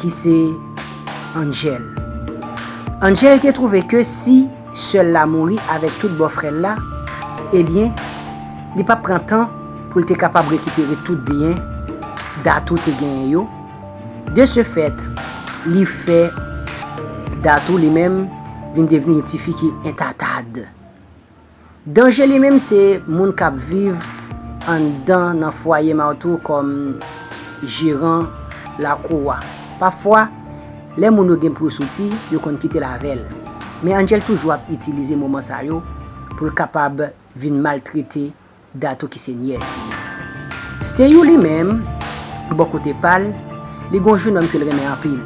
ki se Angel. Angel te trouve ke si sè l la mouri avèk tout bòfrè l la, ebyen, li pap pran tan pou l te kapab rekipere tout byen Datou te genyen yo, de se fèt, li fè Datou li menm vin devni yon tifi ki entatad. Danje li menm se moun k ap viv anndan nan fwaye martou kòm jeran lakou a. Pafwa, lè moun yo gen pou yo soti, yo konn kite l avè l. Men Angel toujou ap itilize moman sa yo pou l kapab vin maltrete Dato ki se nyès li. Steyou li menm, bò kote pa l, li gen yon jenòm ke l renmen anpil.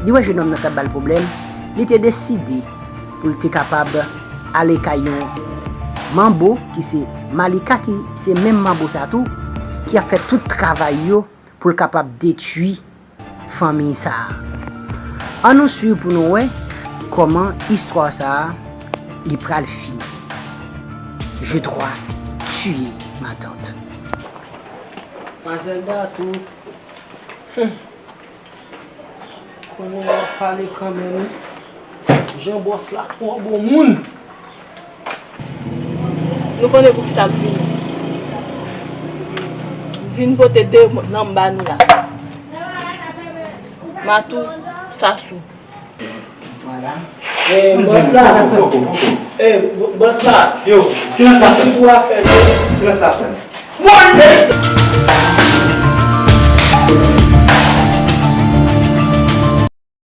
Li wè jenòm nan t ap ba l pwoblèm, li te deside pou l te kapab ale kay yon manbo ki se Malika ki se menm manbo sa tou ki ap fè tout travay yo pou l kapab detui fanmiy sa a. An nou swiv pou nou wè kòman istwa sa a li pral fini. Je twa tiye matant. Mazelda tou humm konnen wap pale kanmenm wi jan bòs la twò bon moun. Nou konnen pou kisa m vini. M vin pote 2 nanm ba nou la. Matou, Sasou.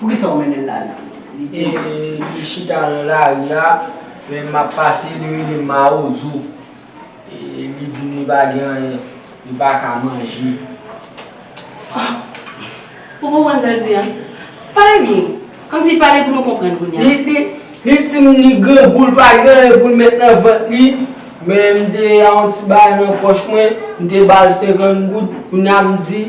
Poukisa ou mennen l la ri? Li te li chita nan lari a, lè m ap pase li rele m mawozo. Li di m li pa gen anyen, li pa ka manje. Ou konprann sa l di a? Pale byen! Kòmsi pale pou nou konprann kounye a. Li di m li grangou li pa gen anyen pou l met nan vant li, men m te gen yon ti bagay nan pòch mwen, m te ba l 50 goud, kounye a m di.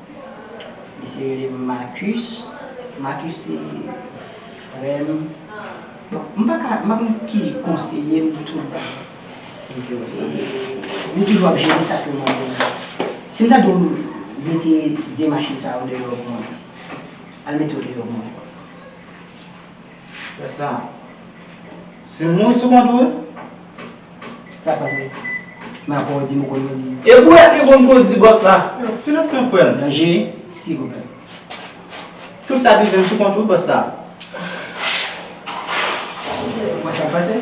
Misye rele m Marcus. Marcus se frè m. Bon, m pa ka, m pa konn ki konseye m pou tout bagay. M toujou ap jere sa k yo mande m. Si m ta di w mete de machin sa yo deyò pou mwen, al mete yo deyò pou mwen. Wè sa. Se mouri sou kont ou wi. Sak pase? Men apa ou dim ou konn kondi. E bouret li konn kondi boss la. Yo silans non frèm. Danje silvouplè. Tout sak rivem sou kont ou wi boss la. Ou wè sak pase?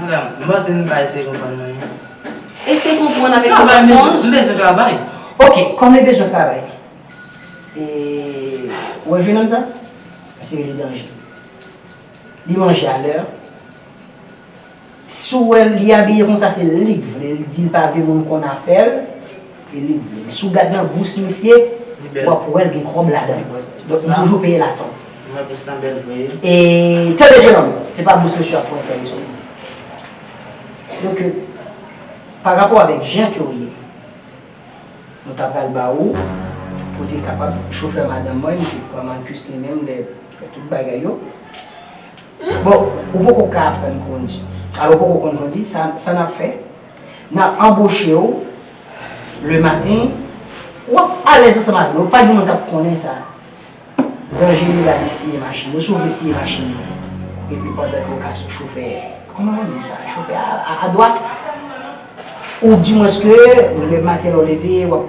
Madam, m panse nou ka eseye konprann mwen wi. Eseye konprann avèk yon fason. Travay, m bezwen travay. Ok, kòm li bezwen travay, e ou wè jenòm sa? Se li danje. Li manje a lè. Si w wè l li abiye konsa se li k vle, li di l pa vle moun konn afè l. E li vre wi. Si w gad nan bous misye, w ap wè l gen kòb ladan l. Donk m toujou peye l a tan. E tande jennonm, se pa bous misye w ap fè w fè rezon non. Yo ke pa rapò avèk jan ke w ye, nou ta pral ba ou pou w te kapab chofè madanm mwen, li te pran Marcus li menm lè fè tout bagay yo. Bon, ou poko ka aprann kondi. Alò ou poko konn kondi, sa n ap fè? Nap anboche w le maten wap alèz ansanm avè nou pa gen moun kap konnen sa danje li la li siye machin yo si w vle siye machin yo epi pandan ke w ka sou chofè kòman mwen di sa chofè a adwat ou di mwens ke le maten lè w leve wap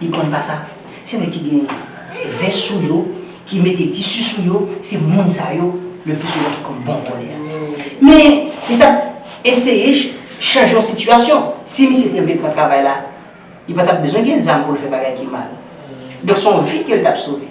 Li konn pa sa. Se nèg ki gen vès sou yo, ki mete tisi sou yo, se moun sa yo le pi souvan ki konn bon vòlè a. Men, li t ap eseye chanje yon sitiyasyon. Si misye te vle pran travay la, li pa t ap bezwen gen zam pou l fè bagay ki mal. Donk se yon vi ke l t ap sove.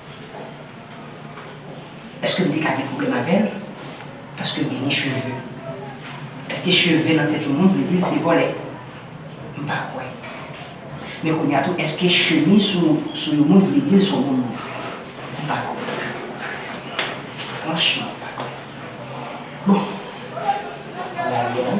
Eske m te ka gen pwoblèm avè l paske l genyen cheve? Eske cheve nan tèt yon moun vle di l se vòlè? M pa kwè. Men kounye a tou eske chemiz sou yon moun vle di l se yon bon moun? M pa kwè non plis. Franchman m pa kwè. Bon! Rayèl.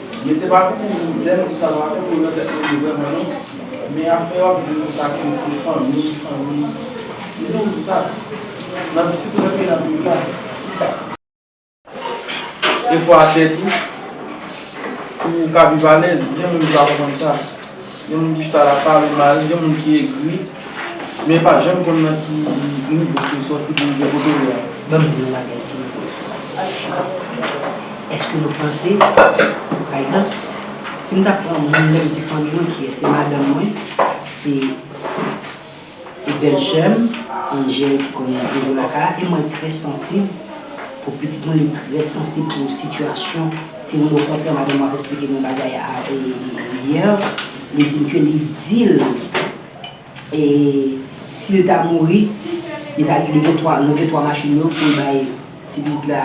Ye se pa pou lèm di sa pa koule nan tèt moun vrèman non men afè wap di nou sa kèm se fanmi fanmi li nou di sa nan pi sitou nan peyi nap viv la. Efò a tè tou pou ou ka viv alèz gen moun ki pa konprann sa. Gen moun ki chita la pale mal, gen moun ki egri, men pa janm konn nan ki nivo ki yo sòti pou rive kote yo a. Ban m di nou yon bagay ti nèg yo. Èske nou panse, pa egzanp, si m ta pran moun menm ti fanmi mwen ki se madanm mwen, se. E bèl sèm Angel ki konn toujou lakay la e mwen trè sansib pou pitit mwen li trè sansib pou sitiyasyon se vre okontrè madanm mwen ap esplike mwen bagay yè li dim ke li dil sil ta mouri li ta li gen 3 nou gen 3 machin yo poul bay ti pitit la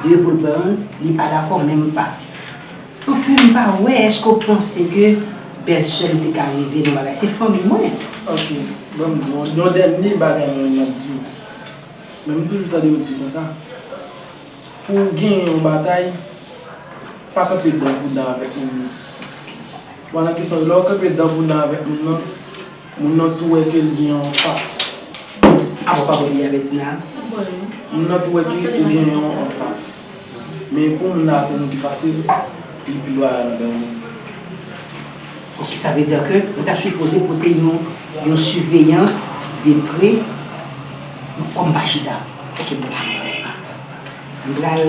2 poul pran youn li pa dakò menm pa. Anfen m pa wè eske w panse ke bèl sè m te ka rive nan bagay se fanmi mwen. Ok banm di w yon dènye bagay mwen menm map di w men m toujou tande yo di konsa pou w genyen yon batay pa kanpe dan pou dan avèk moun nan. Mwen nan kesyon lè w kanpe dan pou dan avèk moun nan. Moun nan tou wè ke li gen yon fas. Apa w pa bwè diyabètik la? M bwè l wi. Moun nan tou wè ke ou gen yon fas. Men pou moun nan atenn ou pi fasil, li pi lwa nan dan ou. Ok, sa vle di ke ou ta sipoze pote yon siveyans de pre kòm pa chita. Ok bon. M pral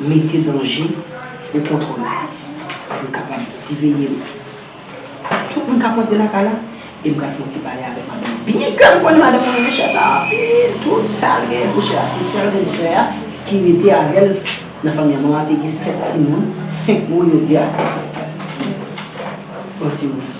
mete danje ou kontwòl. M kapab siveye ou. Ak tout moun kap rantre lakay la e m pral fè yon ti pale avèk madanm lan byen klè m konnen madanm lan renmen sè sa anpil tout sal genyen pou sè a se sèl grenn sè a ki rete avèl nan fanmi an manman an te gen 7 timoun 5 moun yo gen ak yon timoun.